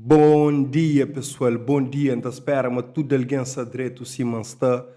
Bom dia pessoal bom dia nta spera ma tudo alguém sa dreto sima nsta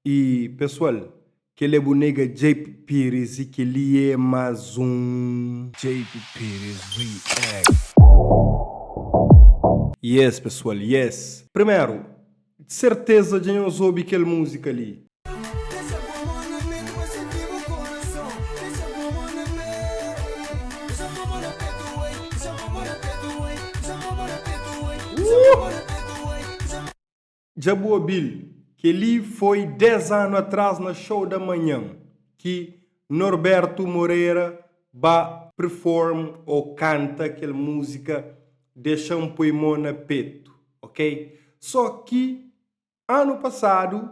e pessoal keli é bu nega jp pires e keli é mas um. Jp Pires react. Yes pessoal yes. Primeru Serteza dja nhos obi kel muzika li. Dja bu obil? Kel-li foi 10 anu atras na Show da Manhan ki Norberto Moreira ba perform o kanta kel musika Dexam poi mo na petu ok so ki anu pasadu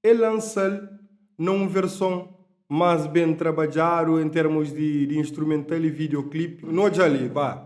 el lansal na um verson mas ben trabadjadu em termos di instrumental e video clip. No dja li ba.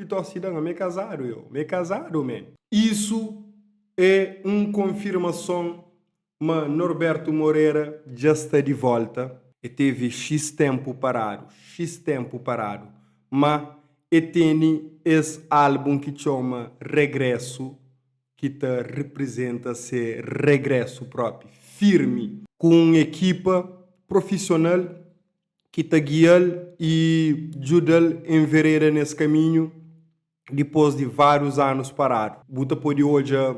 Pitor Sidão, Ame kazadu eu, me kazadu ame. Isu e un konfirmason ma Norberto Moreira dja sta di volta, e tevi xis tenpu paradu, xis tenpu paradu, ma e teni es album ki txoma Regresso ki ta reprizenta se regresso propi, firmi, ku un ekipa profisional ki ta gia-l i djuda-l envereda nes kaminhu dipôs di várius anus paradu. Bu ta pode odja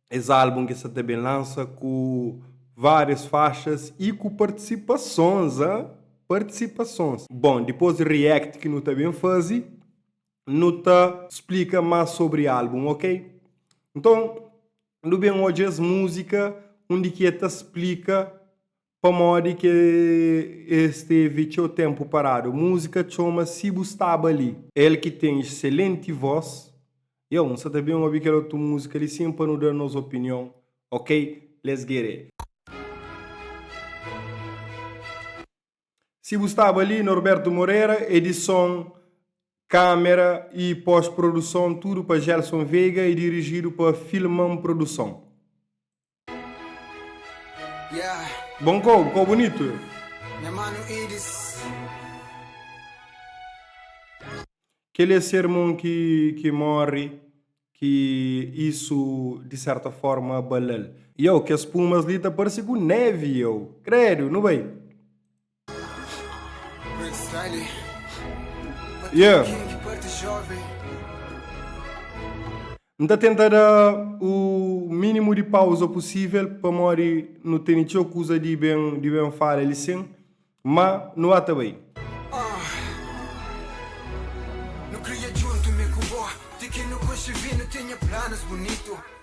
es álbun ki sta ta ben lansa ku várias faxas i ku partisipasons, a partisipasons. Bon, dipôs di React ki nu ta ben faze, nu ta splika más sobri álbun, okey? Nton, nu ben odja es múzika undi ki el ta splika Pamodi ki el stevi txeu ténpu paradu? Múzika txoma Si Bu Staba Li. El ki ten iselenti vós. Yow, N sa ta ben obi kel otu múzika li sin pa nu da nos opinion, ok? Let's get it! Si Bu Staba Li, Norberto Moreira, edison, kámera y pós-produson tudu pa Gelson Veiga y dirijidu pa Filmam Produson. Bom kó, kó bunitu. Kel é sermon ki ki morre ki isu di serta forma bala-l. Iau, kes pumas li ta parse ku névi iau. Kredu, nu bai. Yeah. N ta tenta da o mínimo de pausa possível, pamodi nu teni txeu kuza de ben, de ben fala ali sin, ma nu ata bai.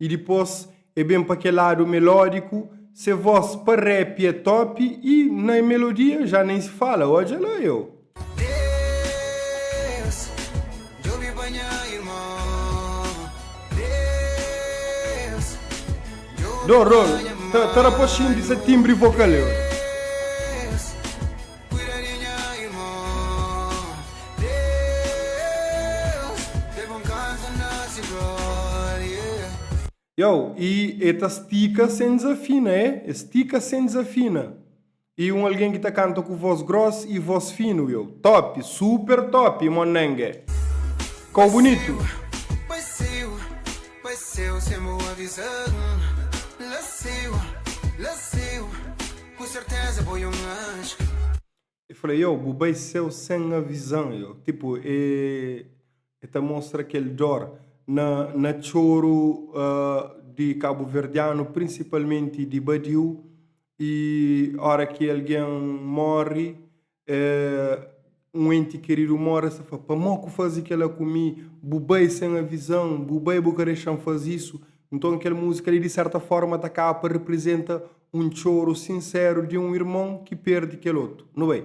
y dipos e ben pa kel lado melodiku se voz pa rap e top y na melodia ja nen se fala odja la yo. Deus djobe pa nha irmon Deus djobe pa nha mãe Don Rolo ta ta rapoxinti sa timbri vokal yo. Kuida di nha irmô Deus Tê bon kansa na se glória. Yow y e ta stika sen dizafina e e stika sen dizafina y un algen ki ta kanta ku vos gros y vos finu yow top super top y monenge kow bunitu. Bai seiu, bai seiu sem bo avisa-m La seiu, la seiu. Ku serteza bo é un anju. E fla yo, Bu bai séu sen avisa-m. Yo, tipu, e e ta mostra kel dór na na txoru di kabuverdianu, prinsipalmenti di badiu. I óra ki algen móre, Un enti keridu móre, sa fla, Pamó ku faze kela ku mi? Bu bai sen avizan, bu bai bu ka dexa-m faze isu. Nton, kel múzika li, di sérta fórma, ta kaba pa reprizenta un txoru sinseru di un irmon ki perde kel otu. Nu bai.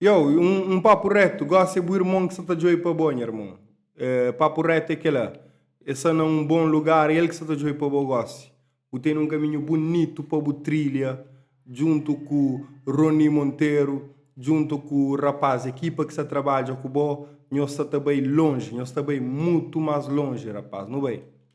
Yow, un papu retu, gosi é bu irmon ki sa ta djobe pa bo, nha irmon. Papu retu é kela, é sa na un bon lugar el ki sa ta djobe pa bo gosi. Bu tene un kaminhu bunitu pa bu trilha djuntu ku Rony Monteiro, djuntu ku rapaz, ekipa ki sa trabadja ku bo. Nhos sa ta bai lonji, nhos ta bai mutu mas lonji, rapaz. Nu bai.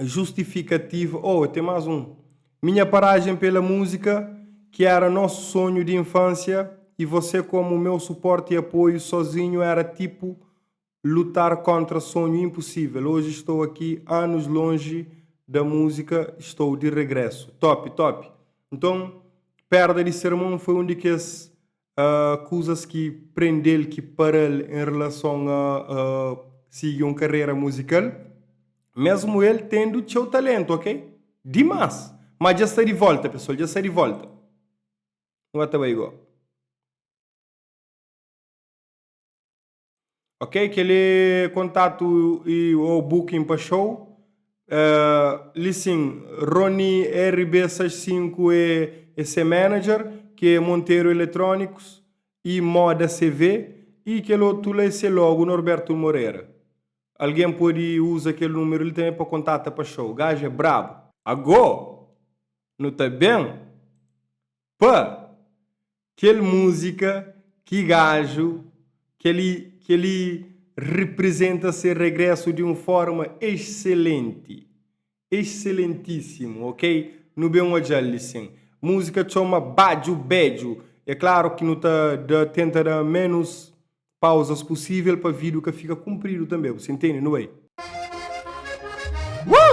justifikativa oh ten más un minha parajen pela múzika ki éra nosu sonhu di infânsia i vosé komu meu suporti i apoiu sozinhu éra tipu lutar kóntra sonhu inpusível oji stou aki anus lonji da múzika i stou di regrésu. Top top. Nton pérda di se irmon foi un di kes kuzas ki prende-l, ki para-l en relason a sigi un karera muzikal, mésmu el tendu txeu taléntu ok, dimás! Má dja sta di vólta pesoal, dja sta di vólta! Nu ba ta bai gó. Ok, kel-li é kontatu y, ô booking pa xou. Li sin, Rony RB65 é se manager, ki é Monteiro Eletrónicos y Moda CV, y kel otu la é se logo, Norberto Moreira. Algen pode uza kel númeru li tanbe pa kontata pa xou. Gaja é brabu! Agô, nu ta ben? Pa! Kel múzika, ki gaju, kel-li, kel-li reprizenta se regrésu di un fórma exselenti. Exselentísimu, ok? Nu ben odja-l-li sin. Múzika txoma Badju Bedju. É klaru ki nu ta da, tenta da ménus pauzas pusível pa vídiu ka fika kunpridu tanbê, bu sta intende? Nu bai. Woo!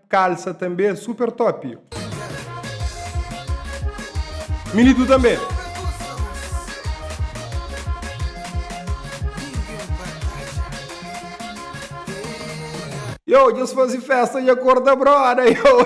Kalsa tanbe super top. Militu tanbe. Yow dja-s fazi festa dja korda broda yow.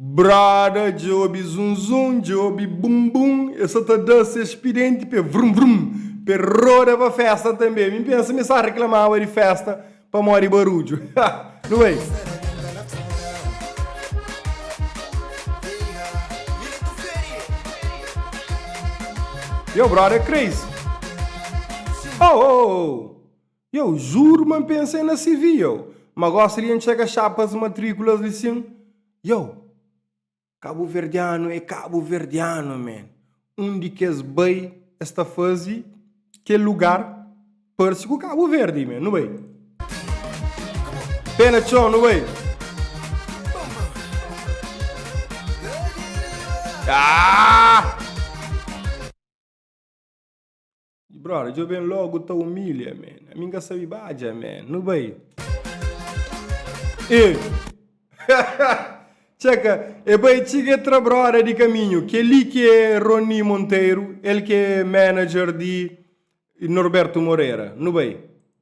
Brada, dja obi zunzun, dja obi bumbum, e sa ta da ses pidenti pé vrum vrum, pé rodaba festa tanbé. Mi pensa mi sa reklamaba di festa pamodi barudju. Ha! Nu bai! Yo brother crazy oh oh oh. Yow juro ma npensa em na CV yow ma gosta de enxerga chapas matriculas li sim yow cabo verdiano é cabo verdiano man undi que es bai es ta fazi kel lugar parci ku cabo verde man nu bai pé na txon nu bai aaah. Brother, djo ben logo ta humilha, man. Ami nka sabi badja, man. Nu bai. E. Tcheka, e bai txiga tra brother di kaminhu. Keli ki é Rony Monteiro, el ki é manager di Norberto Moreira. Nu bai.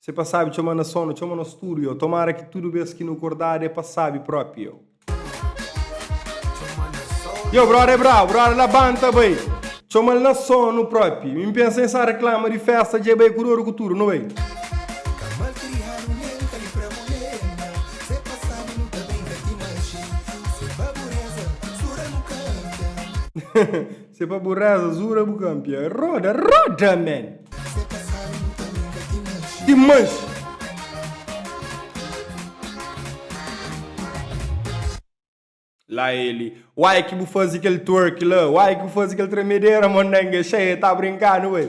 Se pa sabi txoma na sonu, txoma nos tudu eu Tomara ki tudu bes ki nu kordadu é pa sabi propi eu Yo brother é brabu, brother labanta bai Txoma-l na sonu propi Mi pensa N sa reklama di festa dje bai ku doru ku tudu nu bai Se pa bu reza zura bu kanpia roda roda man. Se pa sabe bu ta nunka ki manxe. Ki manxe. La ele, uai ki bu fazi kel twerk la, uai ki bu fazi kel tremedera mondenge, xee ta brinka nu ê.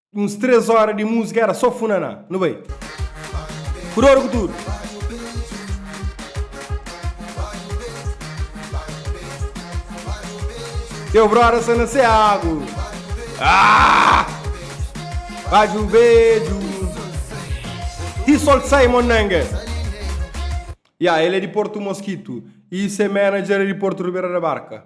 Uns três hora de música era só funaná. Nu bai. Ku dor e ku tudu. Teu brother sa na Seago. Ah! Baju beju. T-Sol Simon Nanga. Ya, ele é de Porto Mosquito. E se manager é de Porto Ribeira da Barca.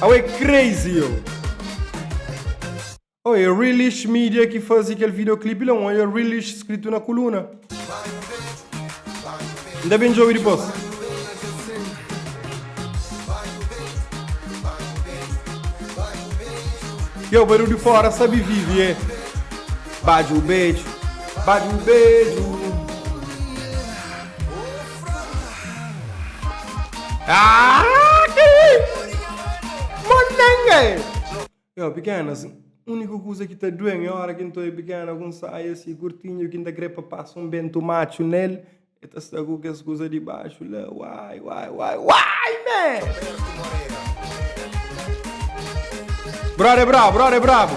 Au é crazy eu. Oh, é Realish Media ki fazi kel videoclip la, un olha Realish skritu na kuluna. Inda ben djobe dipos. Yo, barulho de fora sabe vive, é. Bate o beijo, bate o beijo. Aaaa ki Monenga é? Yo pikena si uniku kuza ki ta duen é ora ki nto é pikena ku un saia si kurtinhu ki nta kre pa pasa un bentu matxu nel e ta sta ku kes kuza di baxu la uai uai uai uai me. Brode é brabu brode é brabu.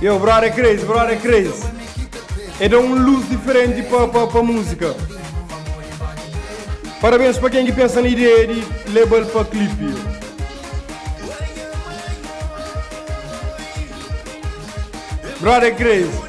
Yow brother é crazy, brother é crazy É da um luz diferente pa, pa, pa música Parabéns pa quem que pensa na ideia de label pa clipe Brother é crazy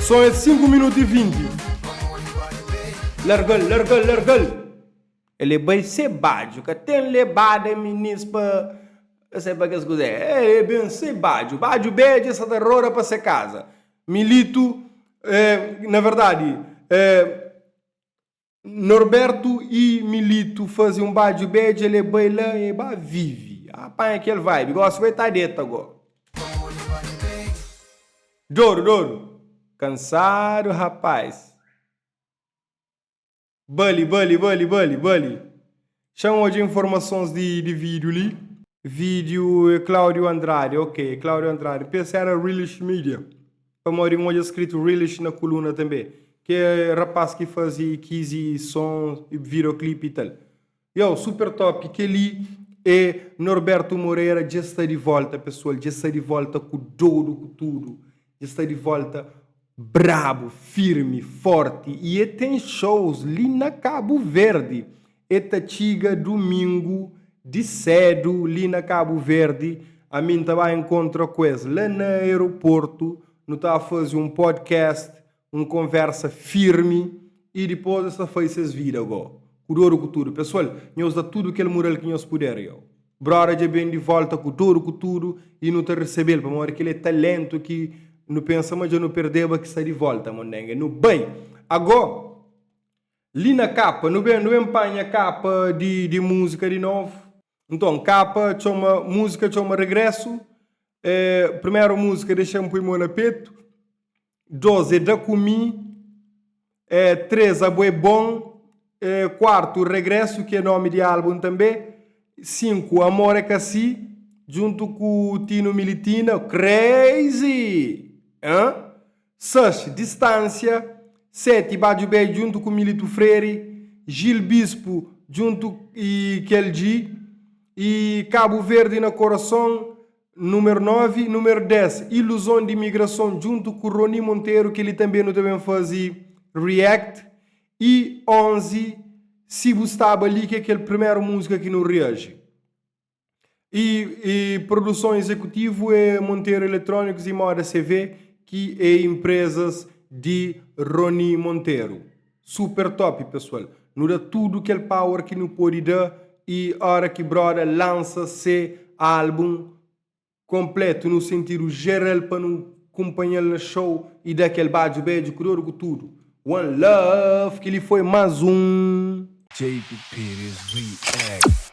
Son é 5 minutu y 20 Largal, largal, largal El é bai se badju Ka ten lebada minis pa Ka sai pa kes kuzé El é ben se badju Badju bedja sa ta roda pa se kaza Militu, eh, na verdadi, eh. Norberto y Milito faze un badju bedja le bai la e ba vive. Ah panha kel vibe gosi bai ta deta go. Doru doru kansadu rapaz. Bali bali bali bali bali. Xa N odja informasons di di vídiu li. Vídiu é Cláudio Andrade, ok, é Cláudio Andrade. N pensa éra Reelish Media, pamodi N odja skritu Reelish na kuluna tanbê. Ki é rapás ki faze Kizzy Som y Videoclip y tal. Yow, super top! Kel-li é Norberto Moreira dja sta di volta, pesual, dja sta di volta ku dodu ku tudu. Dja sta di volta brabu, firmi, forti y e ten shows li na Kabu Verdi. E ta txiga dumingu di sedu li na Kabu Verdi. Ami N ta bai nkontra ku es la na aeroportu. Nu ta fazi un podcast un konversa firmi y dipos es ta fai ses vida go ku doru ku tudu. Pesual, nhos da tudu kel mural ki nhos puder. Yo, broda, dja ben di volta ku doru ku tudu y nu ta resebel, pamodi kel é talentu ki nu pensa ma dja nu perdeba ki sta di volta. Mondenge nu bai ago? Li na kapa nu ben nu ben panha kapa di di musika di novu. Nton, kapa txoma musika txoma regresu. É primeru musika dexa-m pui mo na petu. Dôs é da ku mi Três abo é bon Kuartu Regresu ki é nómi di álbun tanbê Sinku Amor é ka si djuntu ku Tino Militina Crazy! Ahn Sex Distánsia Seti Badju Bey djuntu ku Milito Freire Gil Bispo djuntu i kel dji i Kabu Verdi na Korason Númeru 9, númeru 10, iluzon di imigrason djuntu ku Rony Monteiro kel-li tanbê nu ta ben faze react y 11, si bu staba li ki é kel primeru múzika ki nu reaji. Y y produson izekutivu é Monteiro Eletrónikus y Moda CV ki é inprezas di Rony Monteiro. Super top pessoal, nu da tudo kel power ki nu pode da e hora ki broda lança se album completo nu sentido geral pa nu cumpanhal na show e da kel badjo bedjo ku dor ku tudo one love ki li foi mas um. Jacob Pires React.